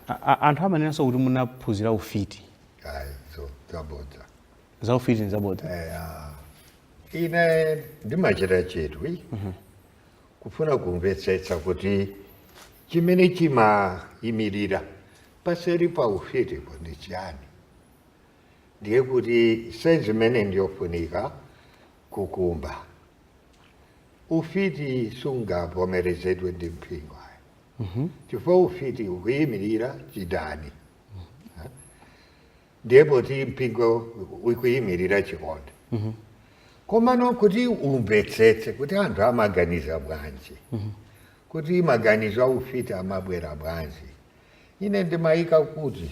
A- a- anthu amanenanso kuti munaphunzira ufiti ayi so zabodza za ufiti ndi zabodza ine ndimachita chidwi kufuna kumvetsetsa kuti chimene chimayimirira paseri pa ufitipo ndi chiyani ndiye kuti senzi imene ndiyofunika kukumba ufiti sungavomerezedwe ndi mpingo ayi chifukwa ufiti ukuyimirira chidani ndiye poti mpingo ukuyimirira chikondi komano kuti umvetsetse kuti anthu amaganiza bwanji kuti maganizo a ufiti amabwera bwanji ine ndimayika kuti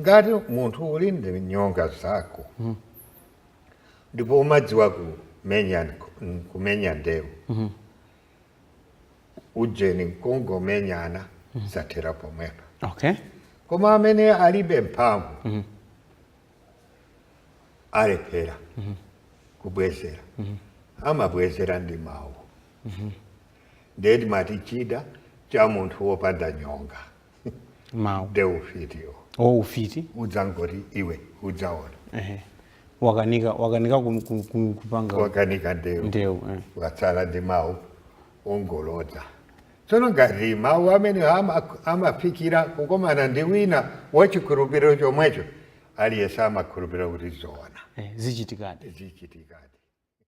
ngati munthu uli ndi nyonga zako ndipo umadziwa kumenya nk- kumenya ndewu ujeni nkungomenyana zathera pomwepa okay koma amene alibe mphamvu alephera kubwezera amabwezera ndi mawu ndiye timati chida cha munthu wopanda nyonga mawu nde ufitiwo o ufiti udzangoti iwe udzaona ehe wakanika wakanika kum- kum- kum- kupanga wakanika ndewu ndewu eh. watsala ndi mawu ongolodza tsono ngati mawu amene ama- amafikira kukomana ndi wina wachikhulupiriro chomwecho aliyense amakhulupirira kuti zoona eh, zichitikadi zichitikadi